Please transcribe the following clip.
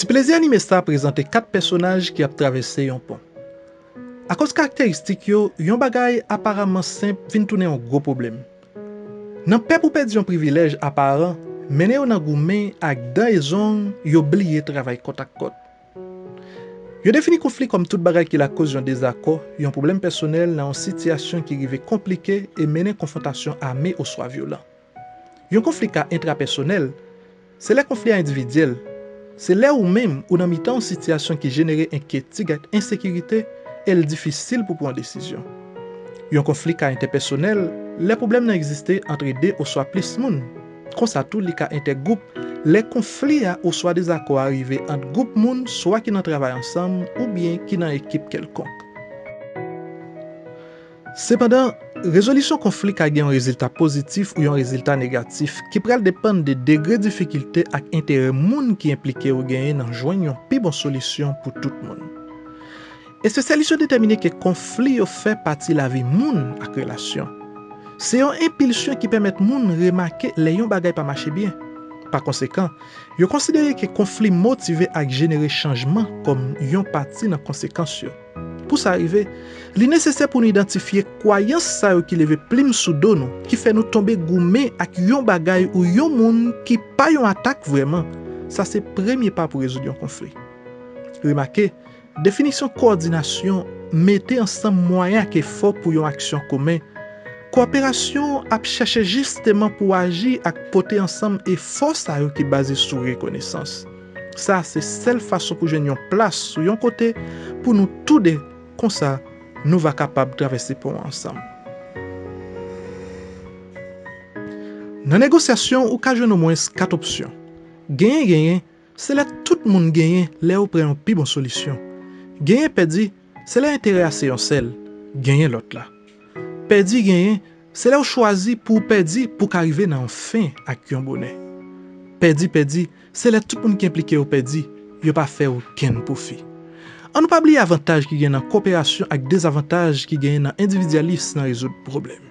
Ti plezi anime sa a prezante 4 pèsonaj ki ap travèse yon pon. Akoz karakteristik yo, yon bagay aparamman senp vin tounen yon gwo pwoblèm. Nan pè pou pèdi yon privilèj aparan mennen yo nan goumen ak dan e zong yo bliye travay kòt ak kòt. Yo defini konfli kòm tout bagay ki lakoz yon dezakò, yon pwoblèm pèsonèl nan yon sitiyasyon ki rive konplike e mennen konfwontasyon ame oswa vyolan. Yon konfli ka entrapèsonèl, se lè konfli a endividyèl, se lè ou menm ou nan mitan yon sitiyasyon ki jenere enkyetig ak ensekirite e l difisil pou pran desizyon. Yon konfli ka entèpèsonèl, lè pwoblèm nan egziste antre de oswa plis moun. Konsa tou li ka entègwoup, lè konfli a oswa dezakò a rive ant gwoup moun swa ki nan travay ansanm oubyen ki nan ekip kèlkonk. Sepandan, rezolisyon konfli ka gen yon rezilta pozitif ou yon rezilta negatif, ki pral depann de degre difikilte ak enterè moun ki enplike yo genyen nan jwenn yon pi bon solisyon pou tout moun. Espesyalis yo detèmine ke konfli yo fè pati lavi moun ak relasyon. Se yon enpilsyon ki pèmèt moun remake lè yon bagay pa mache byen. Pakonsekan, yo konsidere ke konfli motive ak jenere chanjman kòm yon pati nan konsekans yo. Pou sa rive, li nesesè pou nou idantifye kwayans sa yo ki leve plim sou do nou, ki fè nou tonbe goumen ak yon bagay ou yon moun ki pa yon atak vrèman. Sa se premye pa pou rezoud yon konfli. Remake, definisyon kowòdinasyon mete ansanm mwayen ak efò pou yon aksyon komen. Kowoperasyon ap chèche jisteman pou aji ak pote ansanm efò sa yo ki baze sou rekonesans. Sa a se sèl fason pou jwenn yon plas sou yon kote pou nou tou de, konsa nou va kapab travèse pon an ansanm. Nan negosyasyon ou ka jwenn omwens 4 opsyon. Genyen genyen, se lè tout moun genyen lè yo pran yon pi bon solisyon. Genyen pèdi, se lè enterè a se yon sèl, genyen lòt la. Pèdi genyen, se lè ou chwazi pou ou pèdi pou w ka rive nan yon fen ak yon bonè. Pèdi pèdi, se lè tout moun ki enplike yo pèdi, yo pa fè okenn pwofi. An nou pa bliye avantaj ki gen nan koperasyon ak dezavantaj ki genyen nan endividyalis nan rezoud pwoblèm.